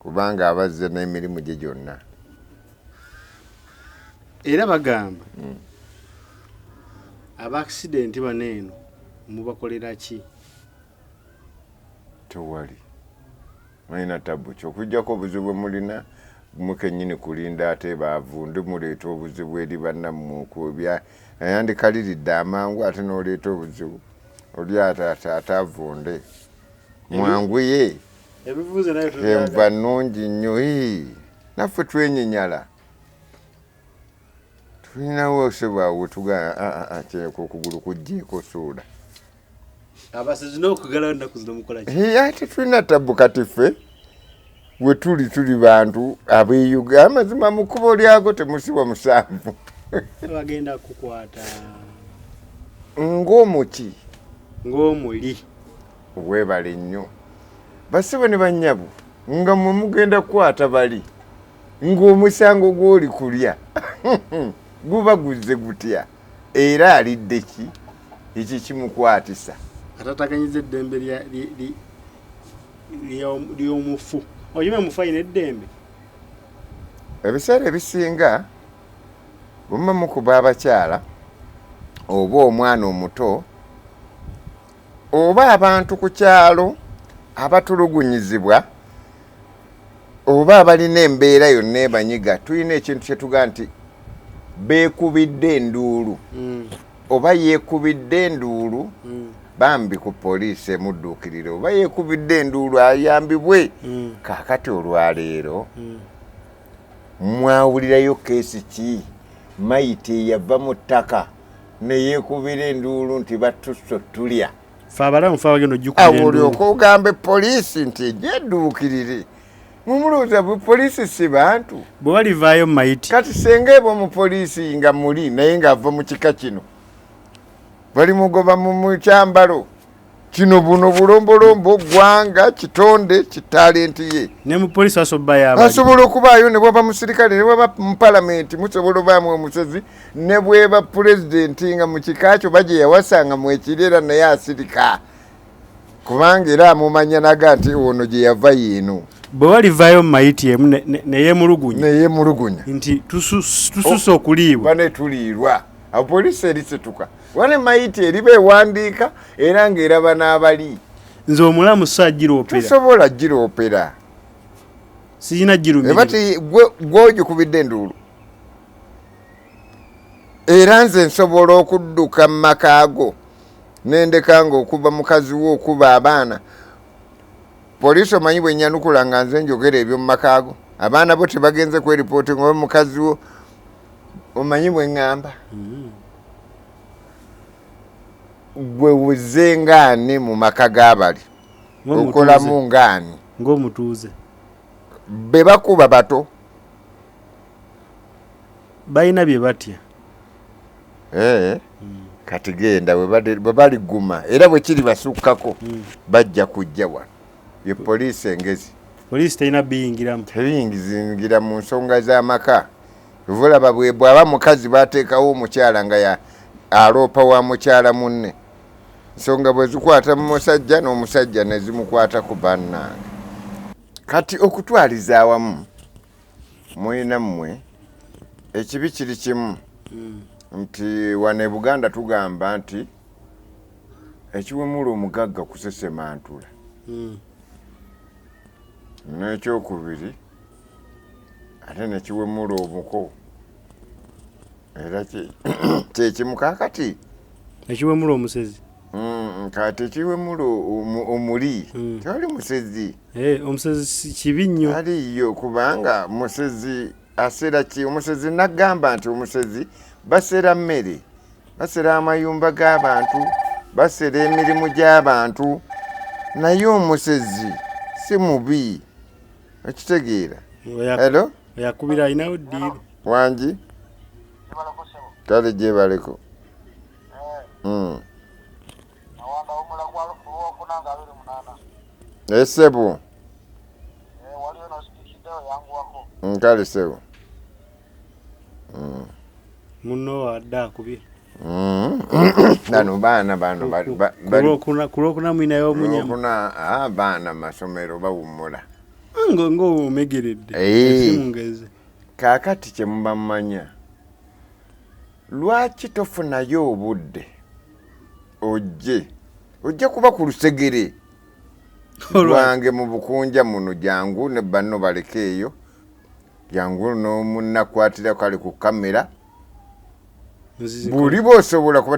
Kubanga aba azze n'emirimu gye gyonna. Era bagamba hmm. abaakisidenti bano eno mubakolera ki? Tewali mulina tabu kyokujjako obuzibu bwe mulina mukenyini kulinda ate baavu ndi muleeta obuzibu eri bannammwe okwobya nayandikaliridde amangu ate n'oleeta obuzibu oli ataavunde mwanguye enva nnungi nnyo naffe twenyinyala tulinawo osebwawo tugakyeko okugulu kujjeeko suula ate tulina tabbu kati ffe wetuli tuli bantu abeyuga amazima mu kkubo lyago temusiwa musanvu bagenda kukwata ng'omuki ng'omuli Webale nnyo basebo ne banyabo nga mwe mugenda kukwata bali ng'omusango gw'oli kulya guba guzze gutya era alidde ki ekyo kimukwatisa atataganyiza eddembe ly'omufu oyima mufu alina eddembe ebiseera ebisinga bwe muba mukuba abakyala oba omwana omuto oba abantu ku kyalo abatulugunyizibwa oba abalina embeera yonna ebanyiga tulina ekintu kyetugaa nti beekubidde enduulu mm. oba yeekubidde enduulu mm. bambi ku poliisi emudduukirire oba yeekubidde enduulu ayambibwe mm. kaakati olwaleero mm. mwawulirayo keesi ki mayiti eyava mu ttaka mm. ne yeekubira enduulu nti battusse otulya fe abalamu fe abagenda ojukubulyoka ogambe poliisi nti ejja edduukirire mumulowooza poliisi si bantu bwe balivaayo mu mayiti kati senga eba omu poliisi nga muli naye ng'ava mu kika kino bali mugoba mu kyambalo kino buno bulombolombo gwanga kitonde kitalenti ye asobola okubaayo nebwaba musirikale nebwaba mupalamenti musobola obaamu omusezi nebweba pulezidenti nga mukika kyo baje yawasanga mwekiri era naye asirika kubanga era amumanya naga nti ono gyeyava yiino bwe walivayo mu mayiti emu neyemulugunya neyemulugunya nti tususa okuliibwa banetuliirwa apoliisi erisituka wane mayiti eriba ewandiika era ng'eraba n'abali nze omulamu sa giroperatosobola giropera sirina girumibati gwogikubidde enduulu era nze nsobola okudduka mu maka go nendeka nga okuva mukazi wo okuba abaana poliisi omanyi bwenyanukula nga nze njogera ebyo mu maka go abaana bo tebagenze kweripooti ngaoba mukazi wo omanyi bwe ŋŋamba mm-hmm. gwe wuze ngaani mu maka g'abali okolamu ngaani ng'omutuuze be bakuba bato balina bye batya eh, mm. kati genda bwe baliguma era bwe kiri basukkako mm. bajja kujja wano ye poliisi engezi poliisi terina biyingiramu tebiyingizingira mu nsonga z'amaka Vulaba bwebwaba mukazi batekawo omukyala nga ya aloopa wa mukyala munne. Nsonga bwezikwata mu musajja n'omusajja nezimukwata ku bannange. Kati okutwaliza awamu mwena mmwe ekibi kiri kimu hmm. nti wano e Buganda tugamba nti ekiwemula omugagga kusesemantula hmm. n'ekyokubiri ate nekiwemula omuko era kyekimu kakati ekiwemula omusezi mm, kati ekiwemula omuli mm. tewali musezi eh, omusezi kibi nnyo aliyo kubanga musezi asera ki omusezi nagamba nti omusezi basera mmere basera amayumba g'abantu basera emirimu gy'abantu naye omusezi si mubi okitegeera elo yakubira alinawo ddiiru wangi kale gyebaleko esebo hmm. eh, nkale sebo hmm. muno adde akubye bano baana bano kulwokuna mwinayo omunyamuna ah, baana masomero bawummula ngaomegeredde eh. kaakati kyemubamanya lwaki tofunayo obudde ojje ojja kuba ku lusegere lwange mu bukunja muno jangu ne banno balekeeyo jangu nomunakwatirako ali ku kamera buli bosobola kuba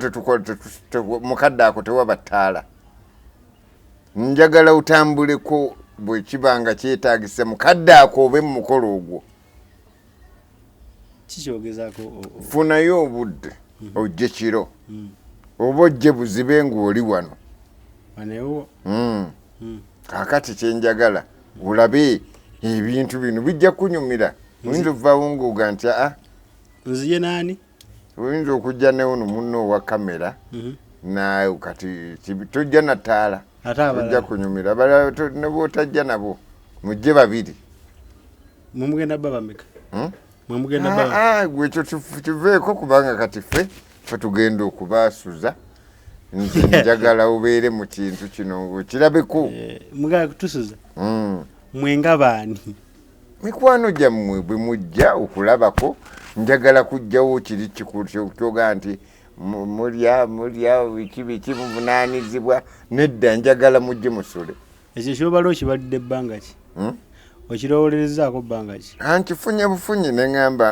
mukadde ako tewaba ttaala njagala otambuleko bwekiba nga kyetagisa mukadde ako obe mumukolo ogwo funayo obudde mhm. ojje kiro mm. oba ojje buzibe ngaoli wano mm. mm. kakati kyenjagala olabe ebintu bino bijja kunyumira oyinza ovaawo ngaoga nti aa ah, nziye nani oyinza okujja newuno munno owa kamera mhm. naye kati tojja nataala ojja kunyumira nebwotajja nabo mujje babiri mwemugenda babameka hmm? ah, ah, gwekyo kiveeko kubanga kati ffe fe tugenda okubasuza njagala ubeere mu kintu kino ngaokirabeko eh, mwenga baani mikwano gyammwe bwe mujja okulabako njagala kujjawo kiri kyoga nti mulya mulya biki biki muvunaanizibwa nedda njagala mujje musule ekyo kyobala okibadde ebbanga ki hmm? okirowolerezaako bbanga ki ankifunye bufunyi ne ŋamba